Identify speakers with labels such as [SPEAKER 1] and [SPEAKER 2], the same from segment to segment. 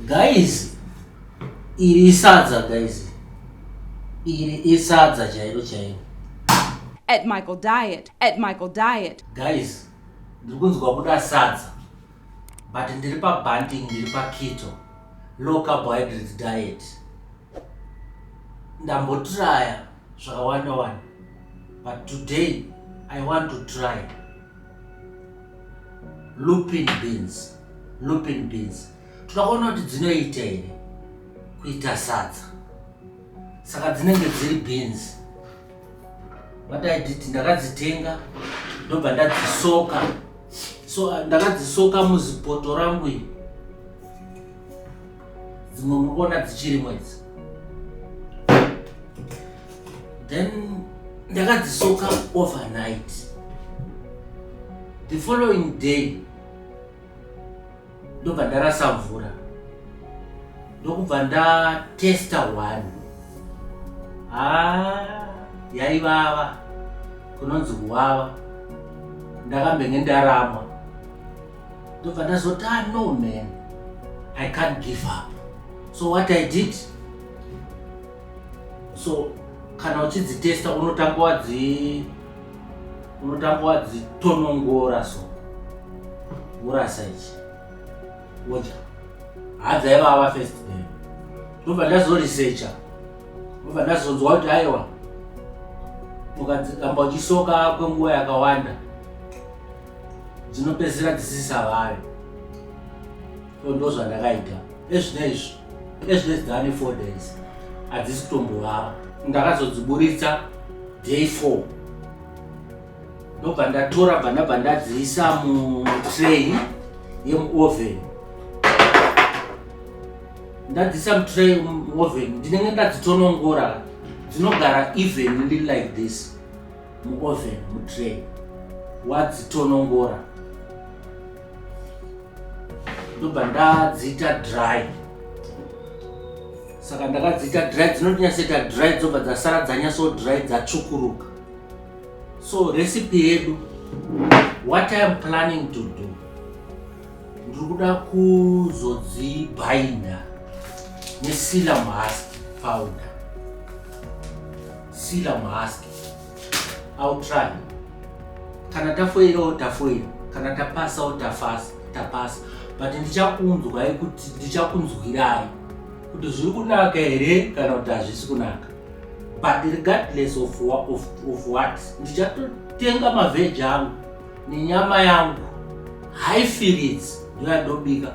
[SPEAKER 1] Guys, iri isadza guys. Iri isadza chairo chairo.
[SPEAKER 2] At Michael Diet, at Michael Diet. Guys,
[SPEAKER 1] ndiri kunzwa kuda sadza. But ndiri pa banting, ndiri pa keto. Low carbohydrate diet. ndambotraya zvakawanda wani but today i want to try lupin beans lupin beans tinoona kuti dzinoita here kuita sadza saka dzinenge dziri beans what i did ndakadzitenga ndobva ndadzisoka so ndakadzisoka muzipoto rangu iri dzimwe muri kuona dzichirimo idzi then ndakadzisoka overnight the following day ndobva ndarasa mvura ndokubva ndatesta one haa ah, yaivava kunonzi kuvava ndakambenge ndaramwa ndobva ndazoti ah no man i can't give up so what i did so kana uchidzitesta unotanga wadzi unotanga wadzitonongora so urasa ichi wodya hadza ivava first day ndobva ndazoresearcha ndobva ndazonzwa kuti aiwa ukadzikamba uchisoka kwenguva yakawanda dzinopedzisira dzisisavari so ndo zvandakaita ezvino izvi ezvino izvi dzava nefour days hadzisi kutombovava ndakazodziburitsa day four ndobva ndatora bva ndabva ndadziisa mutray yemuoven ndadziisa mutray muoven ndinenge ndadzitonongora dzinogara even like this muoven mutray wadzitonongora ndobva ndadziita dry saka ndakadziita dry dzinotinyatsoita dry dzobva dzasara dzanyatso dry dzatsvukuruka so recipe yedu what i am planning to do ndiri kuda kuzodzibhainda nesilam husk powder sila muhask ill try kana tafoirawo tafoira kana tapasawo tafasa tapasa but ndichakunzwai kuti ndichakunzwirai kuti zviri kunaka here kana kuti hazvisi kunaka but regardless of, of, of what ndichatotenga mavheji angu nenyama yangu haifiritsi ndoyandobika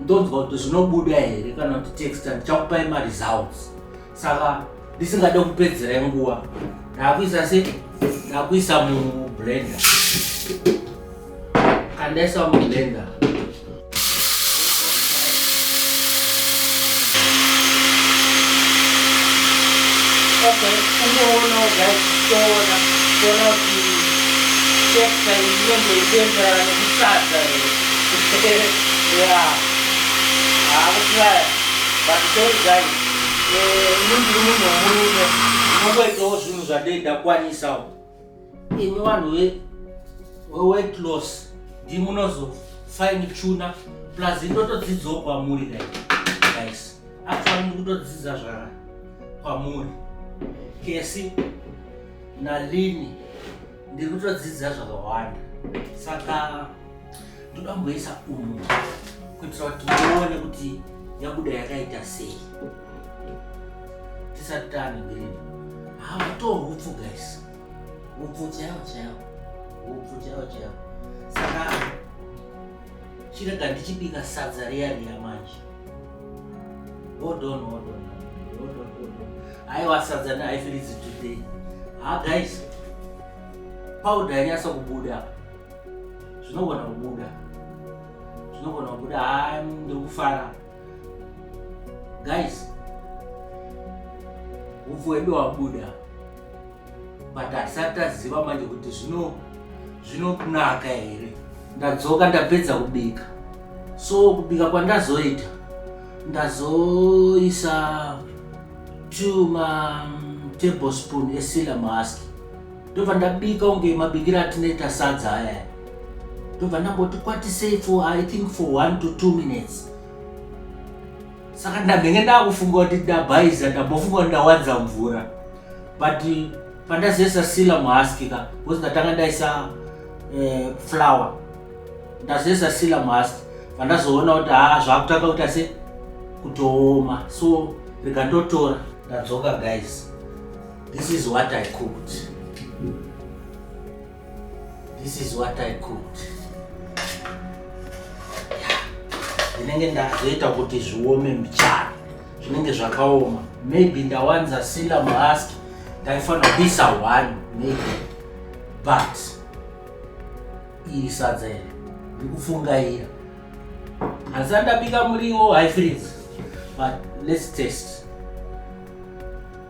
[SPEAKER 1] ndonzwa kuti zvinobuda here kana kuti texta ndichakupai maresults saka ndisingade kupedzera nguva ndakuisa se ndakuisa mublender kandaisa mublender Okay, kungoonawo guys kutoona kuona kuti texture inenge ichienderana nekusadza here ya haakutaya but sorry guys ini ndiri munhu wemurume ndinongoitawo zvinhu zvandei ndakwanisawo imi vanhu weweight loss ndimunozofaini chuna plus ndotodzidzawo kwamuri guys actually ndikutodzidza zvara kwamuri kesi nalini ndiri kutodzidza zvakawanda saka ndoda kumboisa umu kuitira kuti muone kuti yabuda yakaita sei tisati tane mbiriri hato hupfu guys hupfu chaiwo chaiwo hupfu chaiwo chaiwo saka chirega ndichibika sadza riya riya manje odon odon odon odon aiwa sadza neaifiridzi today ha guys powder yanyasa kubuda zvinogona kubuda zvinogona kubuda ha ndikufara Guys, upfu wedu wabuda but hatisati taziva manje kuti zvino zvinokunaka here. Ndadzoka ndapedza kubika, so kubika kwandazoita ndazoisa two ma tablespoon esila mask ndobva ndabika unge mabikira atinoita sadza aya ndobva ndamboti kwatisei for i think for one to two minutes saka ndambenge ndakufunga kuti ndabhaiza ndambofunga kuti ndawanza mvura but pandazoisa sila muhaskika bcause ndatanga ndaisa eh, flower ndazoisa sila muhaski pandazoona kuti haa zvakutanga kuita se kutooma so rikandotora ndadzoka guys This is what I cooked. This is what I cooked. Ndinenge ndazoita kuti zviome mbichana. Zvinenge zvakaoma. Maybe ndawanza sila mask. Ndaifanira kuisa one maybe. But iri sadza iri. Ndikufungaira. Asi andabika muriwo high freeze. But let's taste.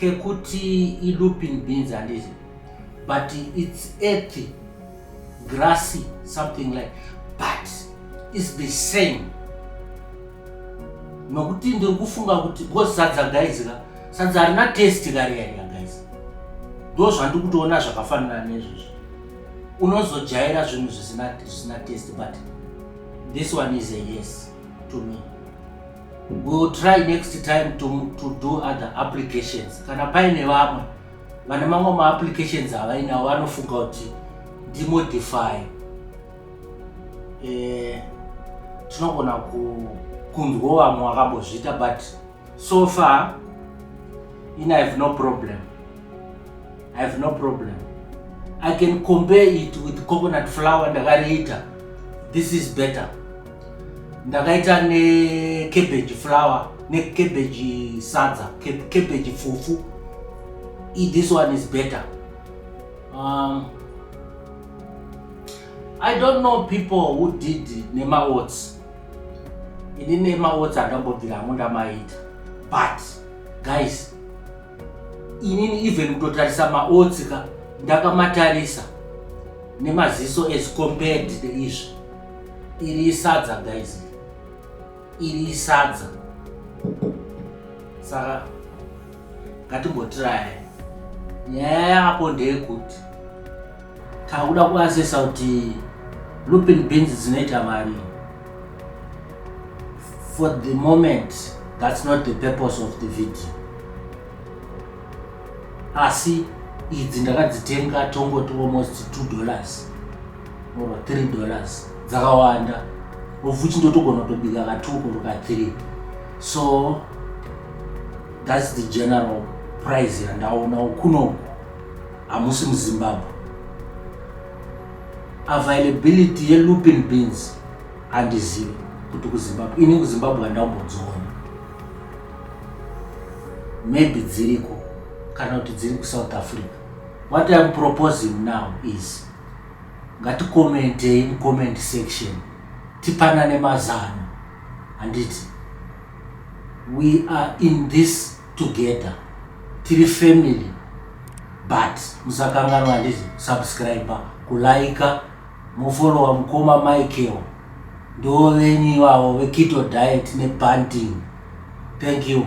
[SPEAKER 1] kekuti ilooping beans handiti but its earthy grassy something like but is the same nokuti ndiri kufunga kuti because sadza guys ka sadza harina test kariyariya guys ndo zvandiri kutoona zvakafanana nezvezvo unozojaira zvinhu zvisina test but this one is a yes to me We will try next time to, to do other applications. Kana paine vamwe vane mamwe maapplications avainawo vanofunga kuti ndimodify eh, tinogona kunzwawo vamwe vakambozviita but so far in i have no problem i have no problem i can compare it with coconut flower ndakariita this is better ndakaita necabbage flower necabbage sadza cabbage fufu e this one is better um, i don't know people who did nemaots ini nemaots andambobvira hangu ndamaita but guys inini even kutotarisa maotsi ka ndakamatarisa nemaziso as compared neizvi iri isadza guys iri isadza saka ngatimbotiraya nyaya yapo ndeyekuti Takuda kuasesa kuti looping beans dzinoita mari. For the moment, that's not the purpose of the video. Asi idzi ndakadzitenga tongoti almost two dollars or three dollars dzakawanda of which ndotogona kutobika ka two or ka three so that's the general price yandaona kunoku hamusi muzimbabwe availability yelupin beans handizivi kuti kuzimbabwe ini kuzimbabwe handambodziona maybe dziriko kana kuti dziri kusouth africa what iam proposing now is ngatikomentei mucomment section tipanane mazano handiti we are in this together tiri family but musakanganwa handizi subscriber kulaika mofolowa mukoma michael ndo venyu ivavo vekito diet nebanding thank you